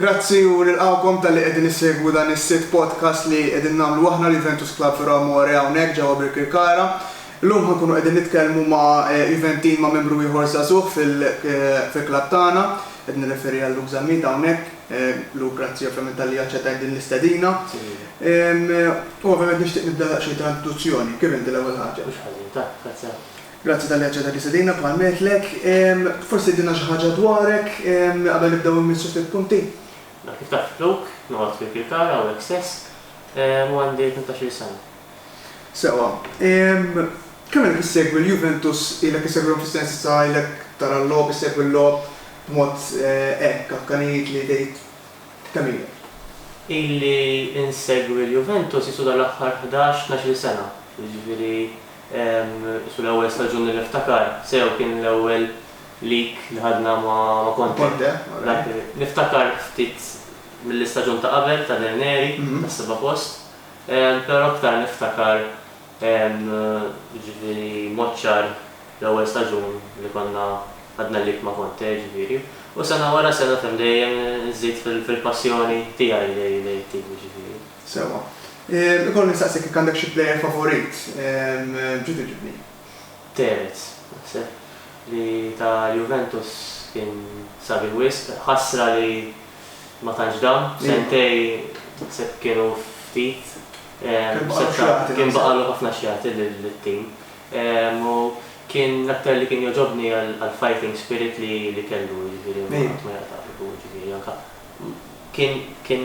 Grazzi u nilqgħukom talli qegħdin issegwu dan is-sitt podcast li qegħdin nagħmlu aħna l-Juventus Club Vero Amore hawnhekk ġewwa Birkirkara. Illum ħa nkunu qegħdin nitkellmu ma' Juventin ma' membru ieħor żagħżugħ fil fil-klabb tagħna. Qed nirreferi għal Luke Zammit hawnhekk. Luke grazzi ovvjament talli aċċettajt din l-istedina. U ovvjament nixtieq nibda daqsxejn ta' introduzzjoni. Kif inti l-ewwel ħaġa? Mhux ħażin. Tajjeb, grazzi ħafna. Grazzi talli aċċettajt li stedina bħal m'għedtlek. Forsi tgħidilna xi ħaġa dwarek qabel nibdew immissu ftit punti? Mela kif taf Luke, noqgħod fi Kirkara hawnhekk stess u għandi tnax-il sena. Sewwa. Kemm ilek issegwi l-Juventus? Ilek issegwihom fis-sens issa ilek tara l-logħob, issegwi l-logħob b'mod hekk akkanit li tgħid kemm ilek? Ili insegwi l-Juventus qisu dal-aħħar ħdax, tnax-il sena, jiġifieri Issu l-ewwel staġun li niftakar sew kien l-ewwel leak li ħadna ma' Conte. Dak li niftakar ftit mill-istaġun ta' qabel ta' Del Neri, tas-seba' post, però aktar niftakar jiġifieri mod ċar l-ewwel staġun li konna ħadna leak ma' Conte jiġifieri. U sena wara sena dejjem żidt fil-passjoni tiegħi lejn it-tim jiġifieri. Sewwa. Ikolli nistaqsik jekk għandek xi plejer favorit? Ġu twiġibni. Tevez. Naħseb li ta' Juventus kien sabiħ wisq. Ħasra li ma tantx dam. Sentejn naħseb kienu ftit. Kien baqgħalu x'jagħti. Kien baqgħalu ħafna x'jagħti lit-tim. U kien l-aktar li kien jogħġobni għall-fighting spirit li kellu, jiġifieri qatt ma jaqta' qalbu, jiġifieri anke kien, kien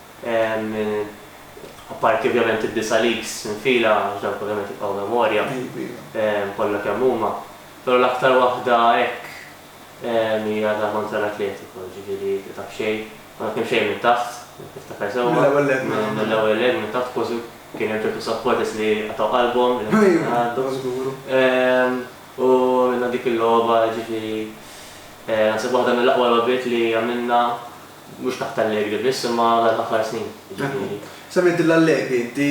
Apparti ovvjament id-disa' leagues infila, għax dawk ovvjament jibqgħu memorja kollha kemm huma. Però l-aktar waħda hekk hija ta' kontra l-Atletico, jiġifieri ta' b'xejn, konna kemm xejn minn taħt, jekk niftakar sewwa. Mill-ewwel leg minn taħt. Mill-ewwel leg minn taħt kważi kien hemm ċertu supporters li qatgħu qalbhom li ma kienu jgħaddu. Iva, żguru. U għamilna dik il-logħba, jiġifieri naħseb waħda mill-aqwa logħbiet li għamilna. Mhux taħt Allegri biss imma għal ħafna snin, jiġifieri. Semmejt lil Allegri inti,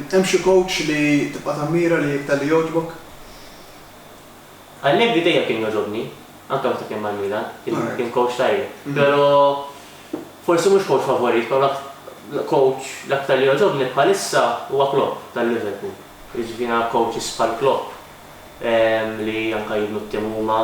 hemm xi coach li tibqa' tammira li iktar li jogħġbok? Allegri dejjem kien jogħġobni, anke meta kien mal-Milan, kien coach tajjeb. Però forsi mhux coach favorit, però coach l-aktar li jogħġobni bħalissa huwa Klopp tal-Liverpool. Jiġifieri nara coaches bħal Klopp li anke jibnu t-tim huma.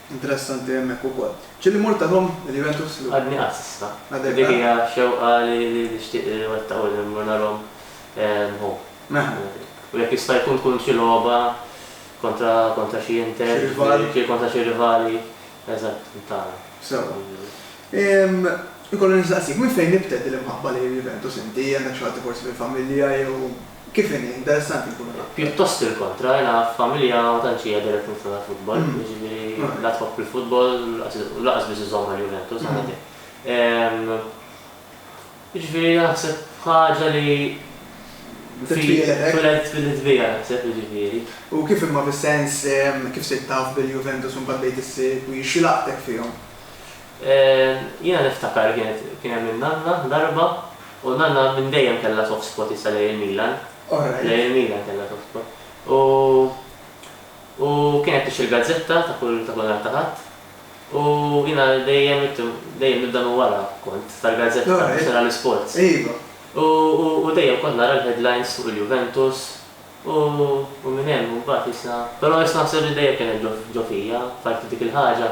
Interessanti hemmhekk ukoll. Ġieli mmur tagħhom il-Juventus l-ewwel. Għadni qatt s'issa. Għadek le. Dik hija xewqa li nixtieq iwettaq u li mmur narahom hu. Mela. U jekk jista' jkun tkun xi logħba kontra kontra xi Inter. Xi rival. Xi kontra xi rivali. Eżatt, tagħna. Sewwa. Inkollu nistaqsik, minn fejn nibtet din l-imħabba lejn il-Juventus inti? Għandek xi ħadd forsi fil-familja jew. Kif inhi? Interessanti jkun il-laqgħa. Pjuttost il-kontra, jiena f'familja ma tantx hija dirett miftuħa l-futbol, jiġifieri la tħobb il-futbol u lanqas biss iżomm mal-Juventus, għandha din. Jiġifieri naħseb ħaġa li twieled twieled biha naħseb jiġifieri. U kif imma fis-sens kif sirt taf bil-Juventus u mbagħad bdejt issegwi, x'laqtek fihom? Jiena niftakar li kienet kien hemm in-nanna darba u n-nanna minn dejjem kellha soft spot issa lejn il-Milan. Lejn il-Milan kellha soft spot. U u kienet tixtri l-gazzetta ta' kull ta' kull nhar ta' Ħadd u jiena dejjem itt dejjem nibda minn wara kont tal-gazzetta biex nara l-isports. U u u dejjem kont nara l-headlines fuq il-Juventus u u minn hemm imbagħad issa però issa naħseb li dejjem kienet ġo ġo fija parti dik il-ħaġa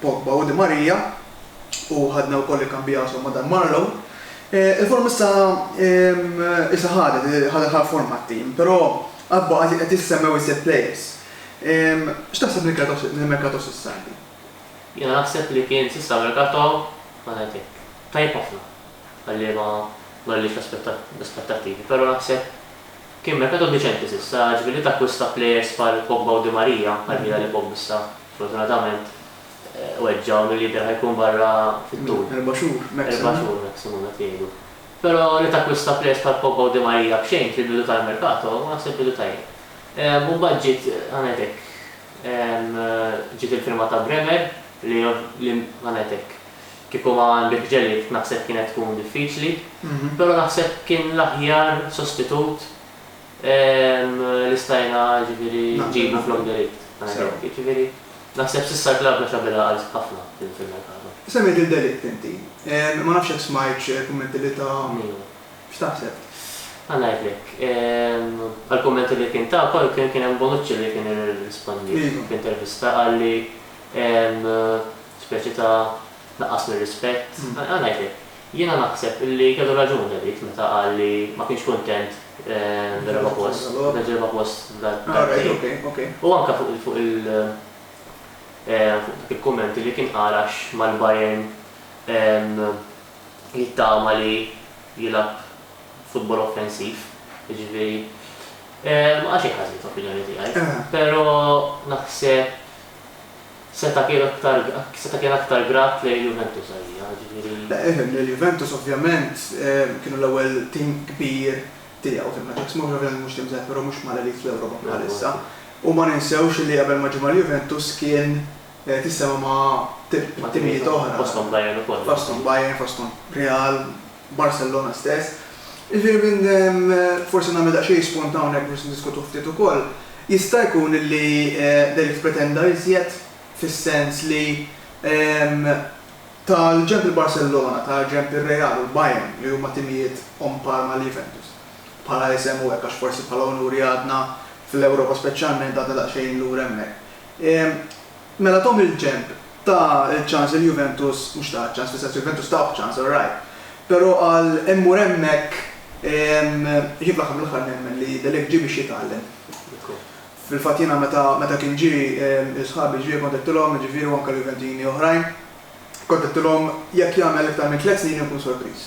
Pogba u Di Maria, u ħadna wkoll ikkambijathom ma' Dan Marlow. Il-forma issa issa ħadet, ħadet ħafna forma t-tim, però għad baqa' qed jissemmew iżjed players. X'taħseb mill-merkato s'issa inti? Jiena naħseb li kien s'issa merkato, ħa ngħid hekk, tajjeb ħafna għal liema m'għalliex l-aspettattivi, però naħseb Kien merkato deċenti s'issa, ġifieri li takkwista plejers bħal Pogba u Di Maria, għal ħila li Pogba issa, sfortunatament, weġġa' u mill-jidher ħa jkun barra fit-tul. Erba' xhur maximum. Erba' xhur maximum qed jgħidu. Però li takkwista plejers bħal Pogba u Di Maria b'xejn fil-bidu tal-merkato, naħseb bidu tajjeb. U mbagħad ġiet, ħa ngħid hekk, ġiet il-firma ta' Bremer li, ħa ngħid hekk, Kieku ma għandek ġelied naħseb kienet tkun diffiċli, però naħseb kien l-aħjar sostitut li stajna jiġifieri nġibu flok de Ligt. Jiġifieri naħseb s'issa l-klabb mexa bil-għaqal ħafna fil-merkato. Semmejt lil de Ligt inti. Ma nafx jekk smajtx il-kummenti li ta. Miegħu. X'taħseb? Ħa ngħidlek. Għall-kummenti li kien ta wkoll kien hemm Bonucci li kien irrispondiet f'intervista qal li Speċi ta' naqqas mir-rispett. Ara ngħidlek, jiena naħseb li kellu raġun David meta qal li ma kienx kuntent bil-raba' post, meta ġie raba' post darbtejn. U anke fuq fuq il fuq dak il-kumment li kien qal għax mal-Bayern jittama li jilgħab futbol offensiv, jiġifieri ma qal xejn ħażin fl-opinjoni tiegħi. Però naħseb. Seta' kien aktar seta' kien aktar grat lejn il-Juventus għalija, ġifieri. Il-Juventus ovvjament kienu l-ewwel tim kbir tiegħu fil-Ħaġa ta' Smuġ, ovvjament mhux tim żgħir però mhux mal-elite fl-Ewropa bħalissa. U ma ninsewx li qabel ma ġie mal-Juventus kien qed jissema' ma' timijiet oħra. Fosthom Bayern ukoll. Fosthom Bayern, fosthom Real. Barcellona stess. Jiġifieri minn forsi nagħmel daqsxejn spunt hawnhekk biex niddiskutuh ftit ukoll, jista' jkun li David pretenda iżjed fis-sens li ta' l-ġenb il-Barcellona, ta' l-ġenb ir-Real u l-Bayern li huma timijiet on par ma' l-Juventus bħala isem u hekk għax forsi bħala unuri għadna fl-Ewropa speċjalment għadna daqsxejn lura hemmhekk. Mela Tom il-ġenb ta ċans lil Juventus, mhux ta ċans fis-sens li Juventus tawh ċans all right, pero għal immur hemmhekk jien fl-aħħar mill-aħħar nemmen li De Ligt ġie biex jitgħallem. Fil-fatt jiena meta meta kien ġie sħabi ġviri kont għedtilhom, jiġifieri u anke l-Juventini oħrajn, kont għedtilhom jekk jagħmel iktar minn tliet snin inkun sorpriż.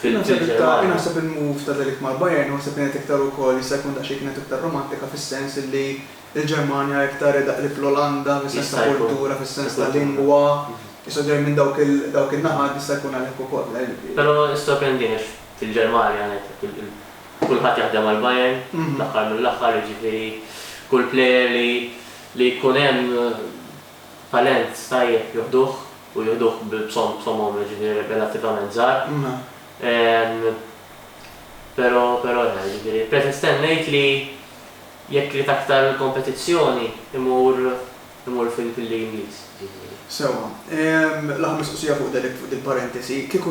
Jien naħseb il-ta' Fil-Ġermanja. jien naħseb il-move ta' De Ligt mal-Bayern huwa se kienet iktar ukoll jista' jkun daqsxejn kienet iktar romantika fis-sens illi l-Ġermanja iktar hi daqrib l-Olanda fis-sens ta' Jista' jkun. kultura, fis-sens ta' Il-kultura. lingwa, jistgħu ġejjin minn dawk il dawk in-naħat jista' jkun għalhekk ukoll. Però jissorprendini għax fil-Ġermanja ngħidlek il il kulħadd jaħdem għall-Bayern fl-aħħar mill-aħħar jiġifieri kull player li li jkun hemm Talent tajjeb jieħduh u jieħduh b'somom jiġifieri relattivament żgħar. Pero pero le jiġifieri Petr stennejt li jekk ried aktar kompetizzjoni imur imur fil-League Ingliż jiġifieri. Sewwa. L-aħħar mistoqsija fuq Delict fuq dil-parentesi. Kieku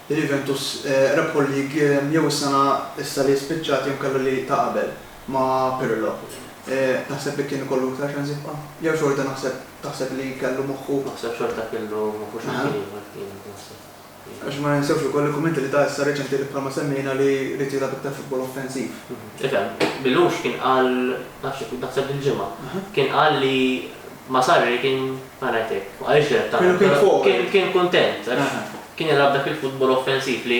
l-Juventus rebħu l-League jew is-sena issa li spiċċat jew inkella li ta' qabel. ma' Pirlo. Taħseb li kien ikollu iktar ċans jibqa'? Jew xorta naħseb taħseb li kellu moħħu? Naħseb xorta kellu moħħu xi ftit ieħor kien naħseb. Għax ma ninsewx ukoll il-kummenti li ta issa reċenti li bħalma semmejna li ried jilgħab iktar futbol offensiv. Ifhem, Belluce kien qal, nafx jekk naħseb dil-ġimgħa, kien qal li ma' Sarri kien, ħa ngħid hekk, ma qaliex direttament, però kien kuntent għax kien jilgħab dak il-futbol offensiv li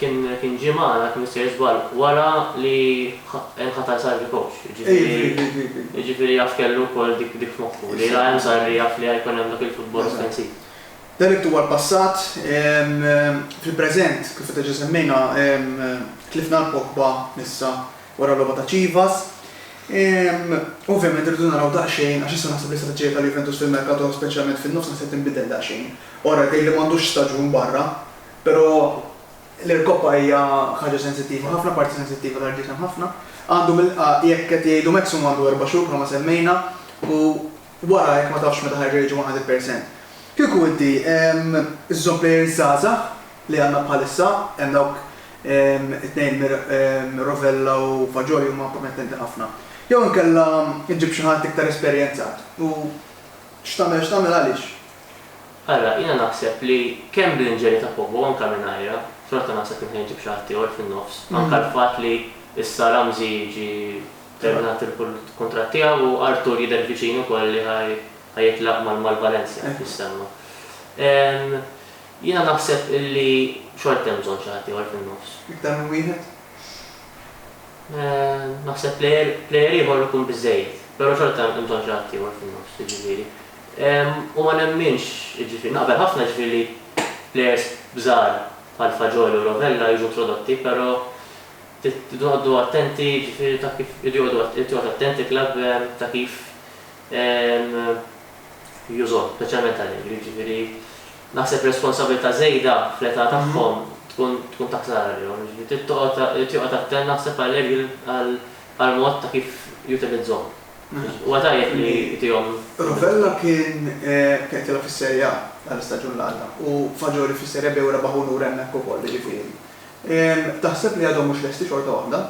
Kien kien ġie magħna jekk m'issejr żball wara li nħatar Sarri coach, jiġifieri jiġifieri jaf kellu wkoll dik dik f'moħħu li la hemm Sarri jaf li ħajkun hemm dak il-futbol offensiv. Dan irid huwa l-passat. Fil-preżent, kif diġà semmejna, tlifna lil Pogba issa wara l-logħba ta' Chivas. Ovvjament irridu naraw daqsxejn għax issa naħseb l-istrateġija tal-Juventus fil-mercato speċjalment fin-nofs naħseb tinbidel daqsxejn. Ora jidhirli m'għandux staġun barra. Però l-irkoppa hija ħaġa sensittiva ħafna, parti sensittiva tal-ġisem ħafna. Għandu mill-qa jekk qed jgħidu maximum għandu erba' xhur bħalma semmejna u wara jekk ma tafx meta ħa jerġa' jiġi 100 percent. Kieku inti żżomm plejers żgħażagħ li għandna bħalissa, hemm dawk it-tnejn Rovella u Fagioli huma promettenti ħafna. Jew inkella ġġib xi ħadd iktar esperjenzat u x'tagħmel x'tagħmel għaliex? Ara, jiena naħseb li kemm bl-inġenji ta' Pope u anke mingħajrha, xorta naħseb li nħeġġi b'xi ħadd ieħor fin-nofs. Anke l-fatt li issa Ramsey jiġi terminat il-kuntratt tiegħu u Arthur jidher viċin ukoll li ħa jitlaq mal-Valencia hekk jissemma. Jiena naħseb illi xorta hemm bżonn xi ħadd ieħor fin-nofs. Iktar minn wieħed? Naħseb plejer ieħor ikun biżżejjed. Però xorta hemm bżonn xi ħadd ieħor fin-nofs, jiġifieri. U ma nemminx, jiġifieri, naqbel ħafna jiġifieri li plejers żgħar bħal Fagioli u Rovella jiġu introdotti, però trid noqogħdu attenti jiġifieri ta' kif irid joqogħdu irid joqgħod attent il-klabb ta' kif jużhom, speċjalment għall-ikel, jiġifieri naħseb responsabbiltà żejda fl-età tagħhom tkun tkun ta' ħsara għalihom, jiġifieri trid toqgħod irid joqgħod attent naħseb għall-ikel għall-mod ta' kif jutilizzhom. Huwa tajjeb li tihom. Rovella kien qedtilha fis-Serie A tal-istaġun li għadda u Fagioli fis-Serie B u rebaħ unur hemmhekk ukoll, jiġifieri. Taħseb li għadhom mhux lesti xorta waħda?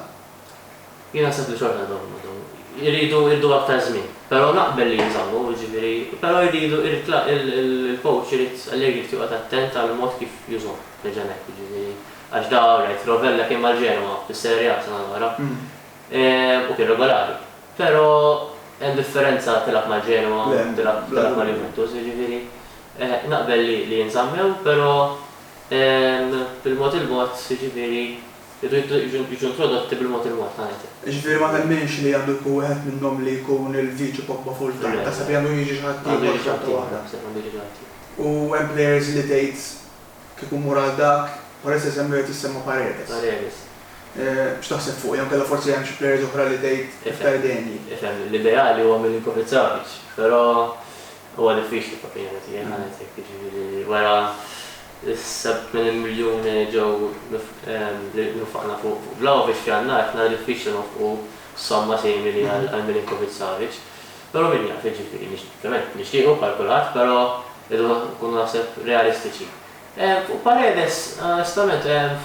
Jien naħseb li xorta għadhom għadhom iridu jridu aktar żmien. Però naqbel li jinżammu, jiġifieri, però jridu irid il-coach irid Allegri irid joqgħod attent għall-mod kif jużhom, nerġa' ngħid, jiġifieri għax da, all right, Rovella kien mal-Genoa fis-Serie A sena l-oħra. U kien regolari. Pero hemm differenza tilgħab ma' Genoa u tilgħab ma' Juventus, jiġifieri naqbel li jinżammew, pero bil-mod il-mod, jiġifieri jridu jiġu introdotti bil-mod il-mod, ta' ngħid. Jiġifieri ma temminx li għandu jkun wieħed minnhom li jkun il-viċi Pogba full-time, taħseb li għandu jiġi xi ħaddieħor xorta waħda? Le, le, naħseb għandu jiġi xi ħaddieħor. U hemm players li tgħid Kieku mmur għal dak, Paredes hemm li qed jissemma Paredes. Paredes. X'taħseb fuq, jew inkella forsi hemm xi players oħra li tgħid iktar degħni? Ifhem, l-ideali huwa Milinkovic Savic, però huwa diffiċli fl-opinjoni tiegħi ħanet hekk, jiġifieri wara s-7 minn miljun li ġew li nfaqna fuq Vlahovic f'Jannar, nara diffiċli nonfqu somma simili għal Milinkovic Savic. Però min jaf, jiġifieri, nix, ovvjament, nixtiequ bħal kulħadd, però rridu na, nkunu naħseb realistiċi. Ehm, fuq Paredes, onestament, ehm,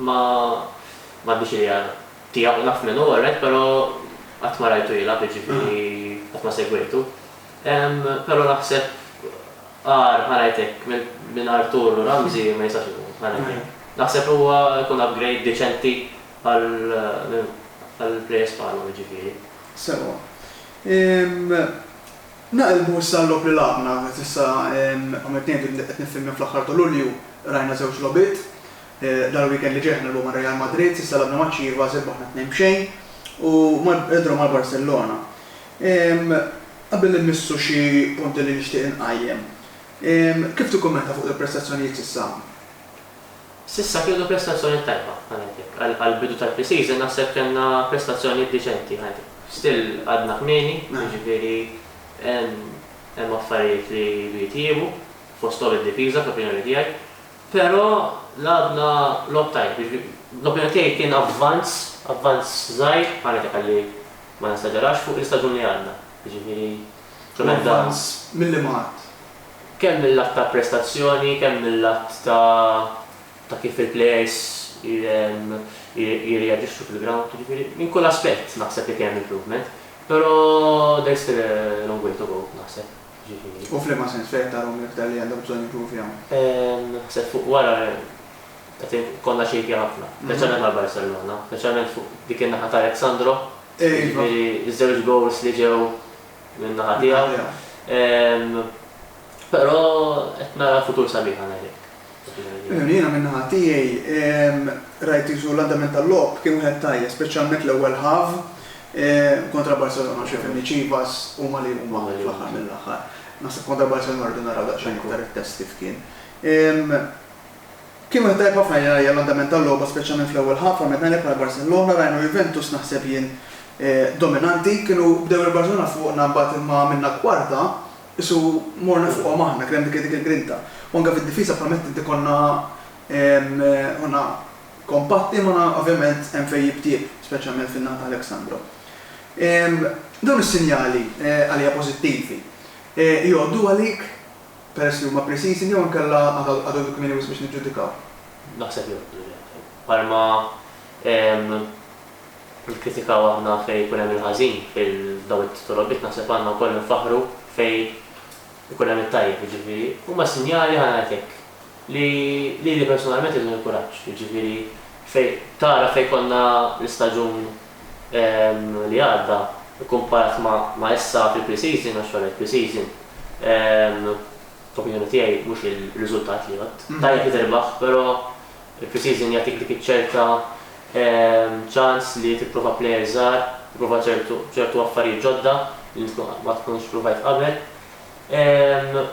ma, m'għandix idea tiegħu, naf min hu, orrett, però qatt ma rajtu jilgħab, jiġifieri qatt ma segwejtu. Ehm, però naħseb agħar, ħa ngħid hekk, minn, minn Arthur u Ramsey ma jistax ikun, ħa ngħid hekk. Naħseb li huwa jkun upgrade deċenti Għall-plejers bħalhom, jiġifieri. Sewa. Naqilbu issa għal-logħob li lagħabna. Qed issa, kom'qed ngħidu, qed niffilmja fl-aħħar ta' Lulju, rajna żewġ logħbiet. Dal-weekend li ġej qed nilgħbu ma' Real Madrid, s'issa lagħabna match ieħor, irbaħna tnejn b'xejn, u draw mal-Barcellona. Qabel li mmissu xi punti li nixtieq inqajjem. Kif tikkummenta fuq il-prestazzjonijiet s'issa? S'issa kellna prestazzjoni tajba, ngħid hekk. Għall-bidu tal-pre-season naħseb kellna prestazzjoni diċenti, ngħid hekk. Still għadna kmieni, jiġifieri hemm affarijiet li jridu jitjiebu, fosthom id-difiża fl-opinjoni tiegħi. Però lagħabna logħob tajjeb, jiġifieri l-opinjoni tiegħi kien avvanz, avvanz żgħir, ngħid hekk ħalli ma nesagerax, fuq l-istaġun li għandna. Jiġifieri kien hemm dan. L-avvanz, milli marrt? kemm mil-lat ta' prestazzjoni, kemm mil-lat ta' ta' kif il-plejers jirreaġixxu fil-grawnd, jiġifieri minn kull aspett naħseb li kien hemm improvement, però there is still a long way to go naħseb, jiġifieri. U f'liema sens fejn qed tarahom l-iktar li għandhom bżonn jimprovjaw? Naħseb fuq wara qed ikollna xejkja ħafna, speċjalment għal Barcellona, speċjalment fuq dik in-naħa ta' Alex Sandro, jiġifieri ż-żewġ goals li ġew minn naħa tiegħu. Però qed nara futur sabiħ għal Erik. Jiena minn naħa tiegħi rajt qisu l-andament tal-logħob kien wieħed tajjeb, speċjalment l-ewwel half kontra Barcelona għax ifhimni Chivas huma li huma fl-aħħar mill-aħħar. Naħseb kontra Barcelona rridu naraw daqsxejn iktar it-test kif kien. Kien wieħed tajjeb ħafna jien rajja l-andament tal-logħba speċjalment fl-ewwel ħafa meta għalhekk wara Barcellona rajna Juventus naħseb jien dominanti kienu bdew il-Barcellona fuqna imbagħad imma għamilna kwarta qisu morna fuqhom aħna kien hemm dik il-grinta u anke fid-difiża bħal m'għedt inti konna konna kompatti ma ovvjament hemm fejn jib tjieb speċjalment fin-naħa ta' Alex Sandro. Dawn is-sinjali għalija pożittivi jgħoddu għalik peress li huma pre-season jew inkella għad għadu kmieni wisq biex niġġudikaw? Naħseb jgħoddu le. Bħalma nikkritikaw aħna fejn ikun hemm il-ħażin f'dawn it-titolobiet naħseb għandna wkoll infaħħru fejn ikun hemm it-tajjeb, jiġifieri huma s-sinjali ħa ngħid hekk li lili personalment jagħtuni l-kuraġġ, jiġifieri fejn tara fejn konna l-istaġun, li għadda kkumparat ma' issa fil-pre-season, għax wara l-pre-season, f'opinjoni tiegħi, mhux ir-riżultat li jgħodd. Tajjeb li tirbaħ, però il-pre-season jagħtik dik iċ-ċerta ċans li tipprova plejers żgħar, tipprova ċertu affarijiet ġodda li int ma tkunx provajt qabel.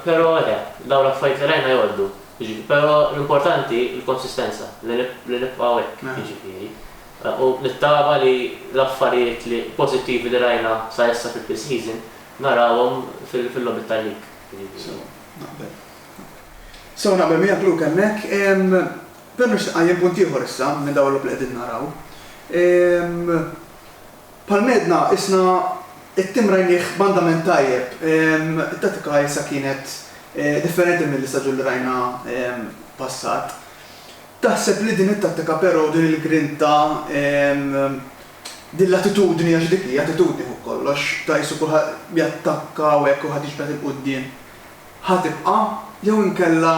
Però le, dawn l-affarijiet li rajna jgħoddu. Però l-importanti l-konsistenza, li nibqgħu hekk, jiġifieri. U nittama li l-affarijiet li pożittivi li rajna sa issa fil-pre-season narawhom fil-logħbiet tal-league. Sew, naqbel. Sew naqbel miegħek Luke hemmhekk. Però nixtieq iqajjem punt ieħor issa minn dawn il-logħob li qegħdin naraw. Bħal m'għedna isna t-tim rajnieh banda minn tajjeb. It-tattika issa kienet differenti mill-istaġun li rajna passat. Taħseb li din it-tattika però, din il-grinta, din l-attitudni, għax dik hi, attitudni fuq kollox, ta' qisu kulħadd jattakka u hekk kulħadd jiġbed 'il quddiem, ħa tibqa'? Jew inkella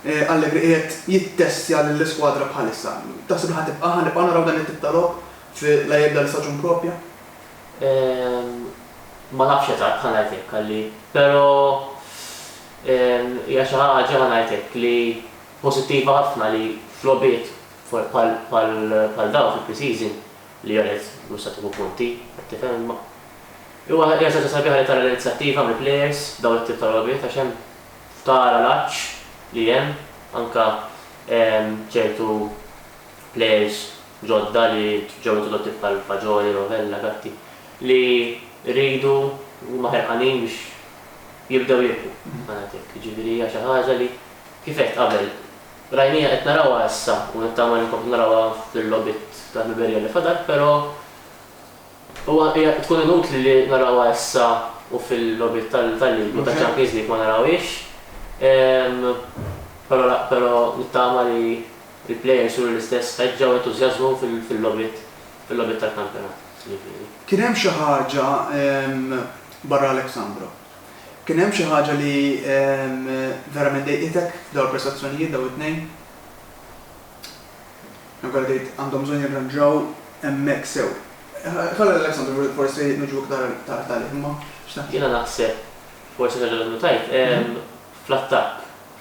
Allegri qiegħed jittestja lill-iskwadra bħalissa? Taħseb li ħa tibqa', ħa nibqgħu naraw dan it-tip ta' logħob fi La Jebla li Staġun Propja? Ehm, ma nafx eżatt, ħa ngħid hekk, Alli. Però, ehm, hija xi ħaġa, ħa ngħid hekk, li pożittiva ħafna li f'logħbiet bħal dawn fi pre-season li għalhekk mhux se tieħu punti, qed tifhem imma. Huwa hija xi ħaġa sabiħa li tara l-inizjattiva mill-players f'dawn it-tip ta' logħbiet għax hemm tara l-għatx li hemm anke ċertu players ġodda li ġew introdotti bħal Fagioli, Rovella, Gatti li rridu huma ħerqanin biex jibdew jilħqu, ħa ngħid hekk. Jiġifieri hija xi ħaġa li Kif għedt qabel, rajniha qed narawha issa u nittama li nkomplu narawha fil-logħbiet tal-ħbiberija li fadal però huwa hija tkun inutli li narawha issa u fil-logħbiet tal-League u taċ-Champions League ma narawhiex però la però nittama li l-players juru l-istess ħeġġa u entużjażmu fil-logħbiet fil-logħbiet tal-kampjonat jiġifieri. Kien hemm xi ħaġa barra Alexandro? Kien hemm xi ħaġa li verament dejqitek f'dawn il-prestazzjonijiet, dawn it-tnejn? Hemm kollha tgħid għandhom bżonn jirranġaw hemmhekk sew. Ħalli lil Alexandru forsi niġu iktar tard għalih, imma x'taħseb? Jiena naħseb forsi xi ħaġa li għandhom tgħid, fl-attakk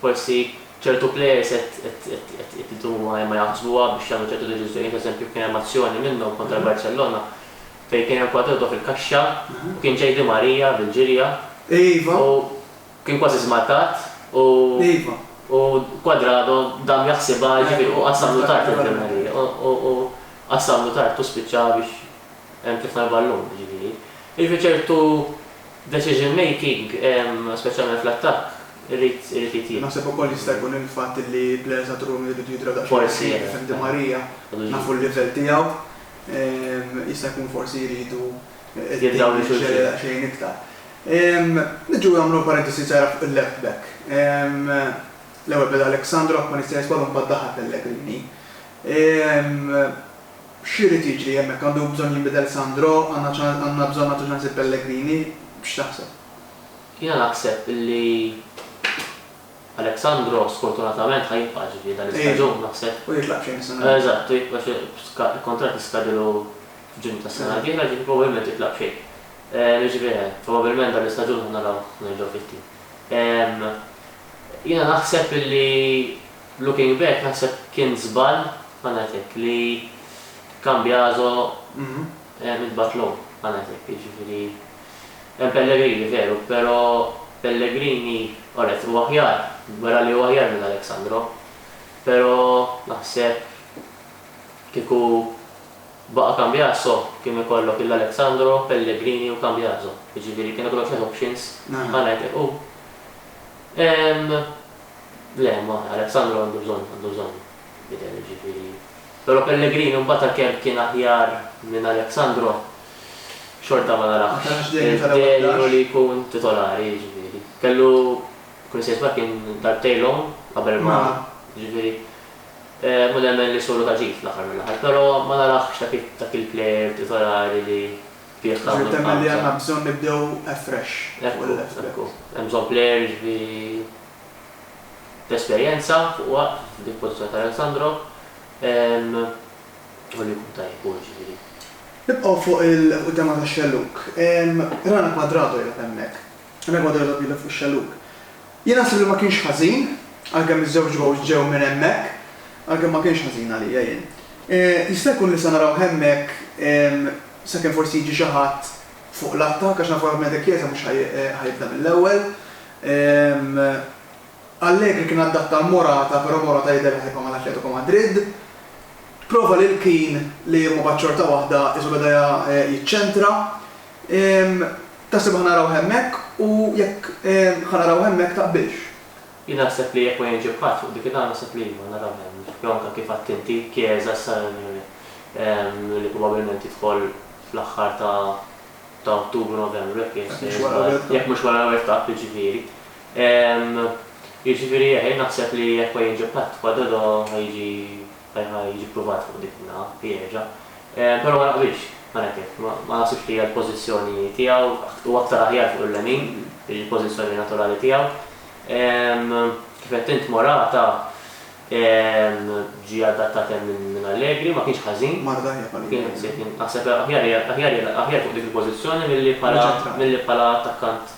forsi ċertu plejers qed idumu ma jaħsbuha biex jagħmlu ċertu deċiżjonijiet, eżempju kien hemm azzjoni minnhom kontra l-Barcellona, fejn kien hemm kwadrotto fil-kaxxa u kien ġej Di Maria bil-ġirja u kien kważi żmarkat u u Cuadrado dam jaħsibha jiġifieri u qassamlu tard lil Di Maria u u qassamlu tard u spiċċa biex hemm tlifna l-ballun jiġifieri. Jiġifieri ċertu decision making speċjalment fl-attakk irid irid jitjieb. Naħseb ukoll jista' jkun il-fatt li players għad-Rumi jridu jidraw daqsxejn ħfief, Di Maria nafu l-livell tiegħu. Jista' jkun forsi jridu jiddaħħlu daqsxejn iktar. Niġu nagħmlu parentesi żgħira fuq il-left back. L-ewwel beda Alexandrov ma nistax nisbalu mbagħad daħal Pellegrini. X'irid jiġri hemmhekk? Għandu bżonn jinbidel Sandro? Għandna bżonn nagħtu ċans lil Pellegrini? X'taħseb? Jiena naħseb li. Alexandro sfortunatament ħa jibqa' ġifieri dan l-istaġun naħseb. U jitlaq f'Ġunju s-sena d-dieħla. Eżatt, għax il-kuntratt jiskadilu f'Ġunju tas-sena d-dieħla, ġifieri probabbilment jitlaq b'xejn. Jiġifieri probabbilment dan l-istaġun ħa narawh nerġgħu fit-tim. Jiena naħseb illi looking back naħseb kien żball, ħa ngħid hekk, li Cambiaso intbagħat lhom, ħa ngħid hekk, jiġifieri. Hemm pellegrini veru, pero' pellegrini onet u aħjar, wera li hu aħjar minn Alexandro. Pero' naħseb kieku baqa' Cambiaso kien ikollok il Alexandro, Pellegrini u Cambiaso. Jiġifieri kien ikollok tliet options bħal hekk u ehm le ma Alexandro għandu bżonn għandu bżonn jidher jiġifieri. Pero' Pellegrini mbagħad għalkemm kien aħjar minn Alexandro, xorta ma narax il-Delu li jkun titolari, jiġifieri. Kellu, kull sejf ma kien darbtejn l-omm qabel ma, jiġifieri, mhu nemmen li solu ta' ġid fl-aħħar mill-aħħar, però ma narax dak dak il-plejer titolari li bih tagħmel qabża. Ġifieri temmen li għandna bżonn nibdew afresh fuq il-left back. Ekku, ekku. Hemm bżonn plejer, jiġifieri, b'esperjenza fuq waqt f'dik il-pożizzjoni ta' Alessandro. Ħalli jkun tajjeb hu ġifieri. Nibqgħu fuq il-quddema tax-xellug. Rana Quadrado qiegħda hemmhekk. Rana Quadrado qiegħda b'idha fuq ix-xellug. Jien naħseb li ma kienx ħażin, għalkemm iż-żewġ gowls ġew minn hemmhekk, għalkemm ma kienx ħażin għalija jien. Jista' jkun li se narawh hemmhekk sakemm forsi jiġi xi ħadd fuq l-attakk għax nafu li ovvjament De Chiesa mhux ħa jibda mill-ewwel. Allegri kien adatta għal Morata però Morata jidher li ħajibqa' mal-Atletico Madrid. Prova lil Kean li mbagħad xorta waħda qisu beda jiċċentra. Taħseb ħa narawh hemmhekk u jekk ħa narawh hemmhekk taqbilx? Jien naħseb li jekk ma jiġi b'ħadd fuq dik il-għan naħseb li iva narawh hemm. Jew anke kif għedt inti, Chiesa issa li probabbilment jidħol fl-aħħar ta' Ottubru, Novembru jekk jekk mhux wara l-ewwel tap jiġifieri. Ehm, jiġifieri eh, jien naħseb li jekk ma jiġi Patt pa' Dodo ħa jiġi, ħa jiġi ppruvat fuq dik in-naħa, jieġa'. Ehm, però ma naqbilx, mela kif, ma naħsibx li hija l-pożizzjoni tiegħu, hu aktar aħjar fuq il-lemin, hi l-pożizzjoni naturali tiegħu. Ehm, kif għedt int Morata, ehm, ġie adattat hemm minn Allegri, ma kienx ħażin. Mar l-aħjar ma kien hemm. Kien, kien, naħseb aħjar, aħjar, aħjar fuq dik il-pożizzjoni milli bħala, milli bħala attakkant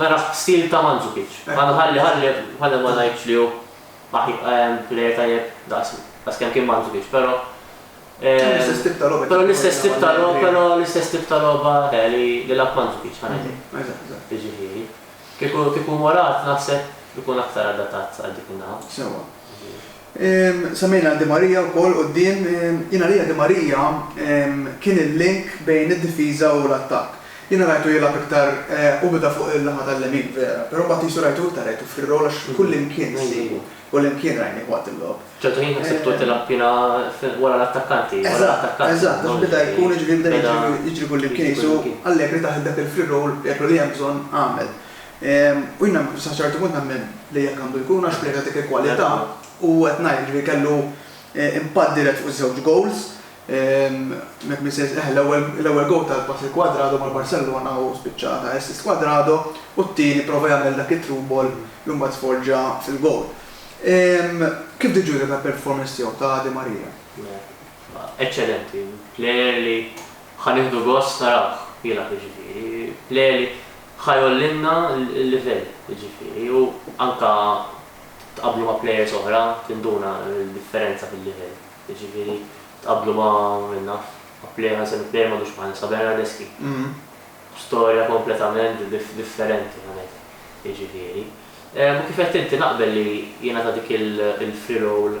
Nara f'stil ta' Mandzukic. Ma nħalli ħalli ħalli ma ngħidx li hu aħj plejer tajjeb daqs daqs kemm kien Mandzukic, però Hemm l-istess tip ta' logħba. Però l-istess tip ta' logħba, però l-istess tip ta' logħba le li li lagħab Mandzukic ħa ngħidlek. Eżatt, eżatt. Jiġifieri, kieku kieku Morat naħseb ikun aktar adattat għal dik in-naħa. Sewwa. Semmejna Di Maria wkoll quddiem. Jien għalija Di Maria kien il-link bejn id-difiża u l-attakk. Jiena rajtu jilgħab iktar u beda fuq il-naħa tal-lemin vera, però mbagħad qisu rajtu iktar għetu fir-rol għax kullimkien nsibu, kullimkien rajnih waqt il-logħob. Ċertu ħin ħsibtu tilgħab jiena wara l-attakkanti, wara l-attakkant. Eżatt, eżatt, għax beda jkun, jiġifieri beda jiġri kullimkien qisu Allegri taħt dak il-free role jgħidlu li hemm bżonn agħmel. U jiena sa ċertu punt nemmen li hekk għandu jkun għax plejers ta' dik il-kwalità u qed ngħid jiġifieri kellu impatt dirett fuq iż-żewġ gowls. Jekk min se jis-, eħe l-ewwel gowl ta' pass lil Cuadrado mal-Barcellona u spiċċa ta' assist Cuadrado u t-tieni prova jagħmel dak it-through ball li mbagħad sforġa fil-gowl. Kif tiġġudika l-performance tiegħu ta' Di Maria? Eċċellenti. Plejer li ħa nieħdu gost narawh jilgħab jiġifieri. Plejer li Ħa jgħollilna l-livell, jiġifieri, u anke tqabblu ma' plejers oħra tinduna d-differenza fil-livell. Jiġifieri tqabblu ma' min naf, ma' plejer, ħa nsemmi plejer m'għadux magħna issa, Bernardeschi. Storja kompletament differenti minn hekk, jiġifieri. U kif għedt inti naqbel li jingħata dik il-free roll.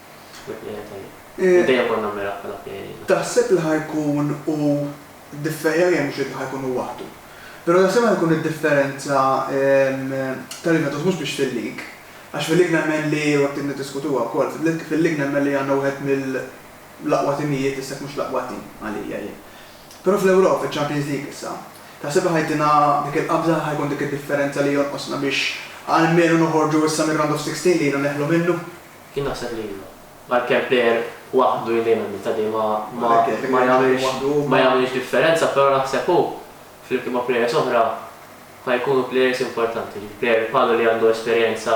Taħseb li ħa jkun hu differjari hemm xejn li ħa jkun hu waħdu. Però taħseb li ħa jkun id-differenza tal-Juventus mhux biex fil-lig, għax fil-lig nemmen li u hekk niddiskutuha wkoll, fil-lig nemmen li għandna wieħed mill-aqwa timijiet issa jekk mhux l-aqwa tim għalija jien. Però fl-Ewropa, fiċ-Champions League issa, taħseb li ħa jtina dik il-qabża, ħa jkun dik id-differenza li jonqosna biex almenu noħorġu issa mir-round of sixteen li ilna neħlu minnu? Jien naħseb li iva. Għalkemm player waħdu jien dejjem nibta' li ma ma jagħmilx ma jagħmilx differenza però naħseb hu flimkien ma' players oħra ħa jkunu players importanti. Jiġifieri player bħalu li għandu esperjenza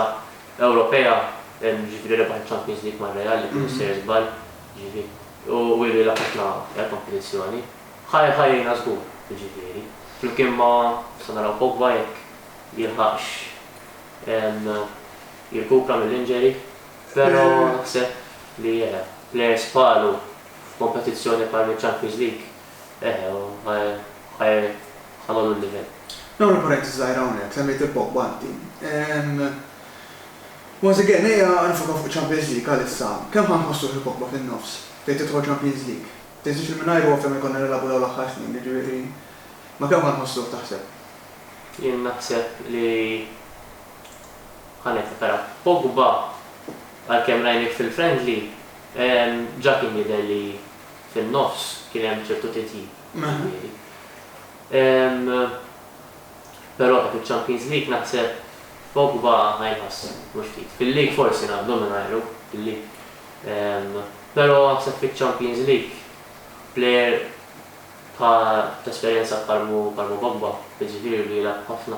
Ewropea, jiġifieri rebaħ iċ-Champions League ma' Real jekk mhux sejjer żball, jiġifieri u ilu jilgħab ħafna kompetizzjoni, ħa jgħinna żgur, jiġifieri flimkien ma' nistgħu naraw Pogba jekk jilħaqx jirkupra mill-injury, però naħseb li eħe, players bħalu f'kompetizzjoni bħal miċ-Champions League, eħe, ħa jgħollu l-livell. Nagħmel parentesi żgħira hawnhekk, semmejt il-Pogba inti. Once again, ejja nifokaw fuq iċ-Champions League għalissa. Kemm ħa nħossuh il-Pogba fin-nofs, fejn tidħol Champions League? Tinsiex li mingħajru ovvja ma jkollna nilagħbu dawn l-aħħar snin, jiġifieri, ma' kemm ħa nħossuh taħseb? Jien naħseb li Ħa niftakar. Pogba, għalkemm rajnih fil-friendly, ġa kien jidher li fin-nofs kien hemm ċertu titjib, jiġifieri. Però dak iċ-Champions League naħseb Pogba ħa jinħass mhux ftit. Fil-League forsi ngħaddu mingħajru, fil-League. Però naħseb fiċ-Champions League plejer ta' esperjenza bħal m'hu Pogba, jiġifieri li jilgħab ħafna.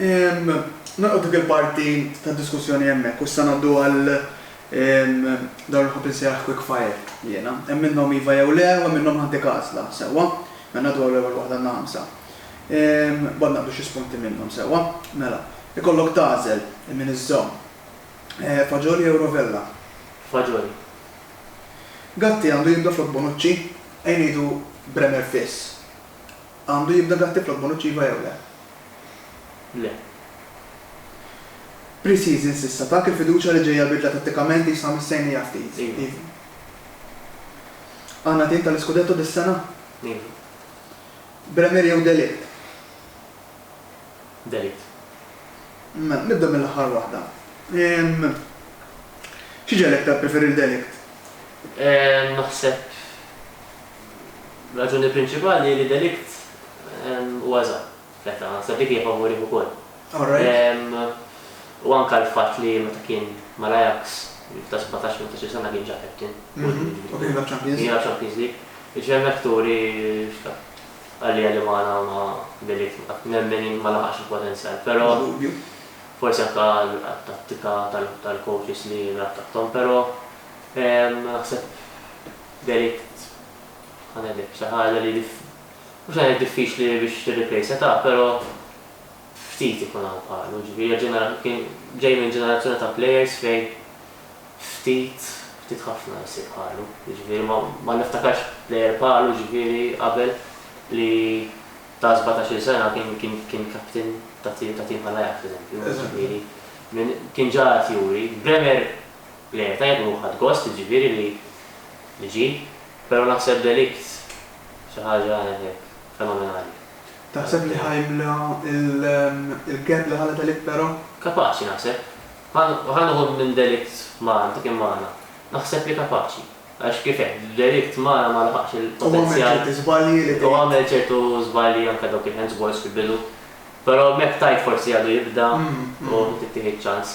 Nagħlqu dik il-parti tad-diskussjoni hemmhekk u issa ngħaddu għal dawn li nħobb insejjaħ quick fire jiena. Hemm minnhom iva jew le u hemm minnhom m'għandek għażla, sewwa? Mela ngħaddu għal l-ewwel waħda għandna ħamsa. Imbagħad naqbdu xi spunti minnhom, sewwa? Mela, ikollok tagħżel min iżżomm. Faġoli jew rovella? Faġoli. Gatti għandu jibda flok Bonucci? Ejn ngħidu Bremer Fiss. Għandu jibda dak tifla b'mod uċċiva jew le? Le. Pre-season s'issa tak il-fiduċja li ġejja bidla tattikament li jisha missejnija ftit? Iva. Iva. Għandna tim tal-iskudetto dis-sena? Iva. Bremer jew De Ligt? De Ligt. Mela, nibda mill-aħħar waħda. Xi ġegħlek tippreferi lil De Ligt? Naħseb. Raġuni prinċipali hi li delikt huwa żgħar fl-età, naħseb dik hija favurih ukoll. U anke l-fatt li meta kien mal-Ajax, f'età sbatax jew tmintax-il sena kien ġa captain. U kien jilgħab Champions League. Kien jilgħab Champions League. Jiġifieri hemmhekk turi x'taf. Għalija li magħna ma' delikt ma' nemmen jien ma laħaqx il-potenzjal. Però forsi anke għat-tattika tal-coaches li jilgħab taħthom. Però naħseb Delict Ħa ngħidlek xi ħaġa li mhux ħa ngħid diffiċli biex tirreplejsha ta' però ftit ikun hawn bħalu, jiġifieri ġenera kien ġej minn ġenerazzjoni ta' plejers fejn ftit, ftit ħafna jsir bħalu. Jiġifieri ma ma niftakarx plejer bħalu jiġifieri qabel li ta' sbatax-il sena kien kien kien captain ta' tim ta' tim bħal Ajax f'eżempju, jiġifieri minn kien ġa qed juri. Bremer Le, tajjeb ruħ ħadt gost, jiġifieri li niġi, però naħseb delikt xi ħaġa hekk fenomenali. Taħseb li ħa jimla il-gap li ħalla delikt però? Kapaċi naħseb. Ħa nieħu minn delikt Mara, ta' kien magħna. Naħseb li kapaċi. Għax kif għedt, delikt Mara ma laħaqx il-potenzjal. Hu għamel ċerti żbalji li. Hu għamel ċertu żbalji anke dawk il-hands balls fil-bidu. Però hemmhekk tajt forsi għadu jibda u tittieħed ċans.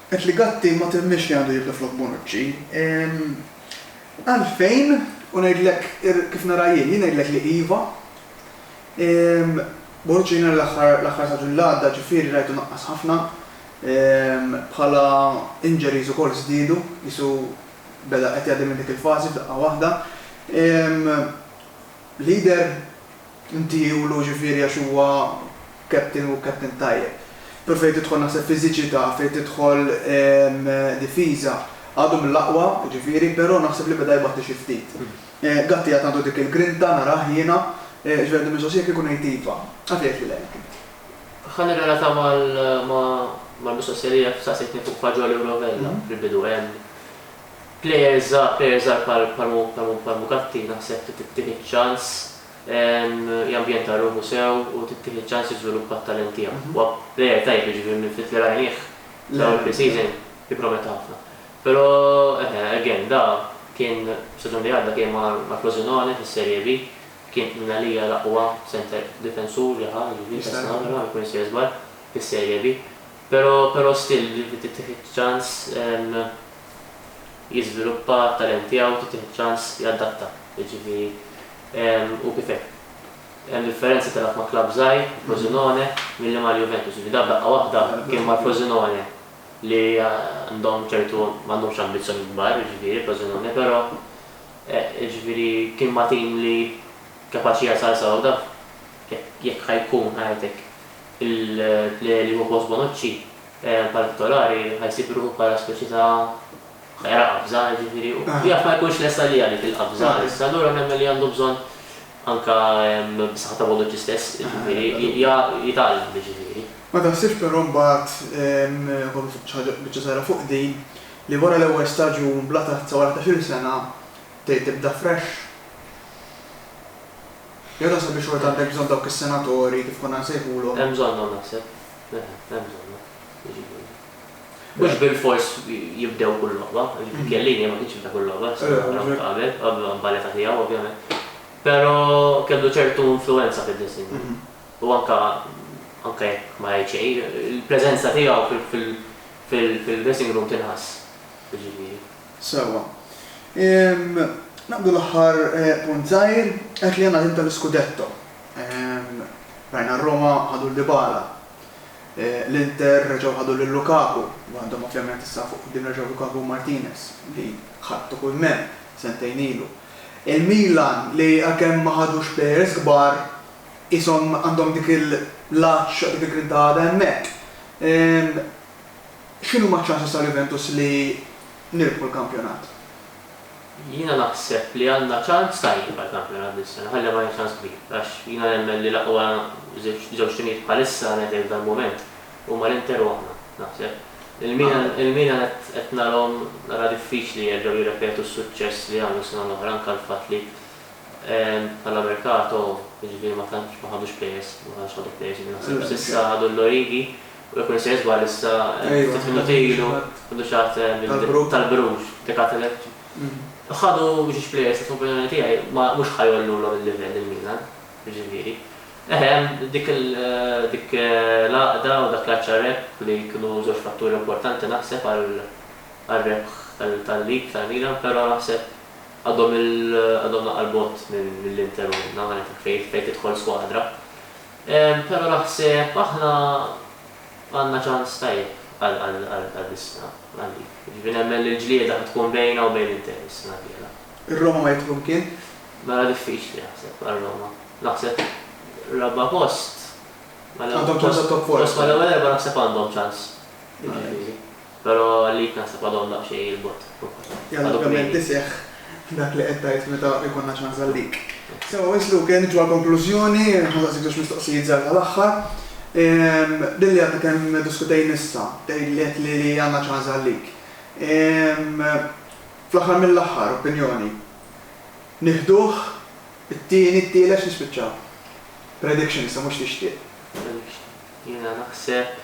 Qed li Gatti ma temminx li għandu jibda flok Bonucci. Ehm. Għalfejn? U ngħidlek kif nara jien, jien ngħidlek li iva. Ehm. Bonucci jiena l-aħħar l-aħħar staġun li għadda ġifieri rajtu naqqas ħafna. Ehm. Bħala injuries ukoll żdiedu, qisu beda qed jgħaddi minn dik il-fażi f'daqqa waħda. Ehm. Leader? Inti ulu ġifieri għax huwa captain u captain tajjeb. Però fejn tidħol naħseb fiżiċità, fejn tidħol difiża, għadu mill-aqwa, jiġifieri, però naħseb li beda jbatti xi ftit. Gatti għad għandu dik il-grinta, narah jiena. Jiġifieri għandi mistoqsija kieku ngħid iva, għad tgħid li le hekk int? Ħa nirrelata mal-mistoqsija li jaf saqsejtni fuq faġoli u rovella fil-bidu. Plejer żgħar, plejer żgħar bħal bħal mu bħal mu bħal Mugatti naħseb trid tittieħed ċans jambjenta ruħu sew u tittieħed ċans jiżviluppa t-talent tiegħu. Huwa plejer tajjeb jiġifieri minn ftit li rajnih f'dawn il-pre-season jipprometta ħafna. Però eħe again da kien staġun li għadda kien ma' ma' Frosinone fis-Serie B kien minn għalija l-aqwa centre difensur li ħa jiġifieri Castellammare ma jkun jista' jiżball fis-Serie B. Pero pero still jiġifieri tittieħed ċans jiżviluppa t-talent tiegħu, tittieħed ċans jadatta, jiġifieri hu kif inhu. Hemm differenza tilgħab ma' klabb żgħir, Frosinone, milli mal-Juventus, jiġifieri dak daqqa waħda kien mal-Frosinone li għandhom ċertu ma għandhomx ambizzjonijiet kbar, jiġifieri Frosinone, pero jiġifieri kien ma' tim li kapaċi jasal saw, daf jekk jekk ħa jkun ħa jgħid hekk. Il-plejer li jieħu post Bonucci, in partikolari, ħa jsib ruħu bħala speċi ta' ħera qabża, jiġifieri, u jaf ma jkunx lest għaliha dik il-qabża issa. Allura nemmen li għandu bżonn anke bis-saħħa ta' Bonucci stess, jiġifieri, jitgħallem, jiġifieri. Ma taħsibx però mbagħad, ukoll xi ħaġa biċċa żgħira fuq din, li wara l-ewwel staġun bla tazza wara ħdax-il sena, tgħid tibda fresh? Jew taħseb li xorta għandek bżonn dawk is-senatori, kif konna nsejħulhom? Hemm bżonnhom naħseb. Le, hemm bżonnhom. Jiġifieri. Mhux bilfors jibdew kull logħba, jiġifieri Chiellini ma kienx jibda kull logħba, naraw qabel, qabel ma nbagħad ta' tiegħu ovvjament. Però kellu ċertu influwenza fid-dressing room. U anke anke jekk ma jgħid xejn, il-preżenza tiegħu fil-dressing room tinħass. Jiġifieri. Sewwa. Ehm, naqbdu l-aħħar punt żgħir, qed li għandna l-ħin tal-iskudetto. Ehm, rajna r-Roma ħadu lil Dybala. L-Inter reġgħu ħadu lil Lukaku, u għandhom ovvjament issa fuq quddiem reġgħu Lukaku u Martinez, li ħadtu kull m'hemm sentejn ilu. Il-Milan li għalkemm ma ħadux players kbar, qishom għandhom dik il-lgħaġġ, dik il-grinta għadha hemmhekk. Ehm, X'inhuma ċ-ċanses ta' Juventus li nirbħu l-kampjonat? Jiena naħseb li għandna ċans tajjeb għall-kampjonat dis-sena, ħalli ma ngħidx ċans kbir, għax jiena nemmen li l-aqwa żewġ timijiet bħalissa ngħidlek f'dal-mument huma l-Inter u aħna, naħseb. Il-Milan qed narahom nara diffiċli jerġgħu jirrepetu s-suċċess li għamlu s-sena l-oħra, anke l-fatt li bħala merkato, jiġifieri ma tantx ma ħadux plejers, ma tantx ħadu plejers li naħseb, s'issa ħadu l-Origi. U jekk m'insejjes żball issa ftit minuti ilu ħadu xi ħadd tal-Bruges, dik għad elett. Ħadu ġiex plejers li fl-opinjoni tiegħi mhux ħa jgħollulhom il-livell lil Milan, jiġifieri. Eħe hemm dik l-għaqda u dak l-għatx għar-rebħ li kienu żewġ fatturi importanti naħseb għar-rebħ tal-League tal-Milan, però naħseb għadhom naqra 'l bogħod mill-Inter u minn hawn għal hekk fejn tidħol skwadra. Pero naħseb aħna għandna ċans tajjeb għal Biskra, Malli. Jiġifieri nemmen li l-ġlieda ħa tkun bejna u bejn l-Inter is-sena d-dieħla. Ir-Roma ma jidħlu mkien? Mela diffiċli naħseb għar-Roma. Naħseb raba' post. Għandhom ċans għat-top four. Post mal-ewwel erba' naħseb għandhom ċans. Jiġifieri. Pero għalik naħseb għadhom daqsxejn il-bogħod fuq. Jalla ovvjament iseħħ dak li qed tgħid meta jkollna ċans għalik. Sewa wisq Luke, niġu għall-konklużjoni, ħansaqsik żewġ mistoqsijiet żgħar tal-aħħar. Din li għadna kemm diskutejna issa, tgħidli qed li li għandna ċans għalik. Fl-aħħar mill-aħħar, opinjoni. Nieħduh it-tieni, t-tielet x'nispiċċaw? Prediction issa mhux tixtieq. Prediction. Jiena naħseb.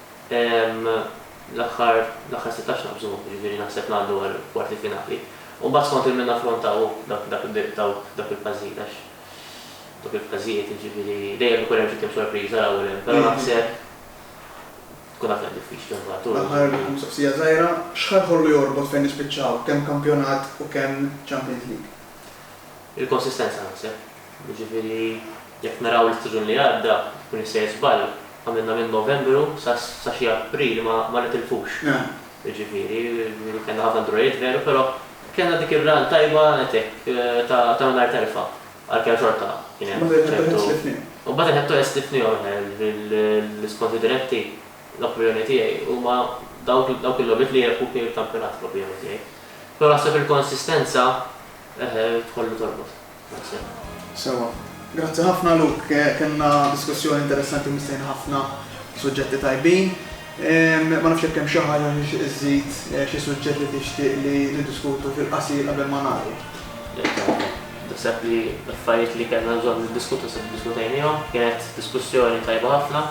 l-aħħar l-aħħar sittax naqbżu, jiġifieri naħseb ngħaddu għall-kwarti finali. U mbagħad skont il-min naffrontaw dak dak id-daw dawk il-fażijiet għax dawk il-fażijiet jiġifieri dejjem ikun hemm xi tim sorpriża l-ewwel hemm, però naħseb tkun aktar diffiċli mbagħad u. L-aħħar mistoqsija żgħira, x'ħa jħollu jorbot fejn nispiċċaw, kemm kampjonat u kemm Champions League? Il-konsistenza naħseb. Jiġifieri jekk naraw l-istaġun li għadda, jkun jissejjer żball, għamilna minn Novembru sa xi April ma nitilfux. Jiġifieri kellna ħafna drawwiet veru, però kellna dik ir-run tajba nett hekk ta' mingħajr telfa, għalkemm xorta kien hemm ċertu. U mbagħad il-head to head sliftniehom aħna, jiġifieri l-iskonti diretti, l-opinjoni tiegħi, huma dawk il-logħbiet li jirebħu fihom il-kampjonat fl-opinjoni tiegħi. Però naħseb il-konsistenza tħollu torbot. Grazzi. Sewwa. Grazzi ħafna Luke. Kellna diskussjoni interessanti u mistħin ħafna suġġetti tajbin. Ma nafx jekk hemm xi ħaġa xi żżid, xi suġġett li tixtieq li niddiskutu fil-qasir qabel ma nagħlqu. Le, grazzi. Naħseb li l-affarijiet li kellna bżonn niddiskutu naħseb iddiskutejniehom. Kienet diskussjoni tajba ħafna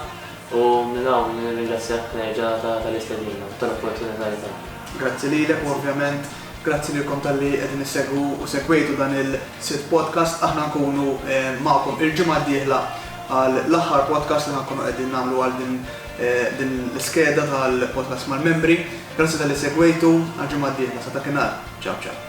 u minn hawn nirringrazzjak nerġa' tal-istedina u tal-opportunità li tajtna. Grazzi lilek u ovvjament, Grazzi lilkom talli qegħdin issegwu u segwejtu dan il-sitt podcast. Aħna nkunu magħkom il-ġimgħa d-dieħla għal l-aħħar podcast li ħa nkunu qegħdin nagħmlu għal din l-iskeda tal-podcast mal-membri. Grazzi talli segwejtu, għal ġimgħa d-dieħla, sa dakinhar, ciao ciao.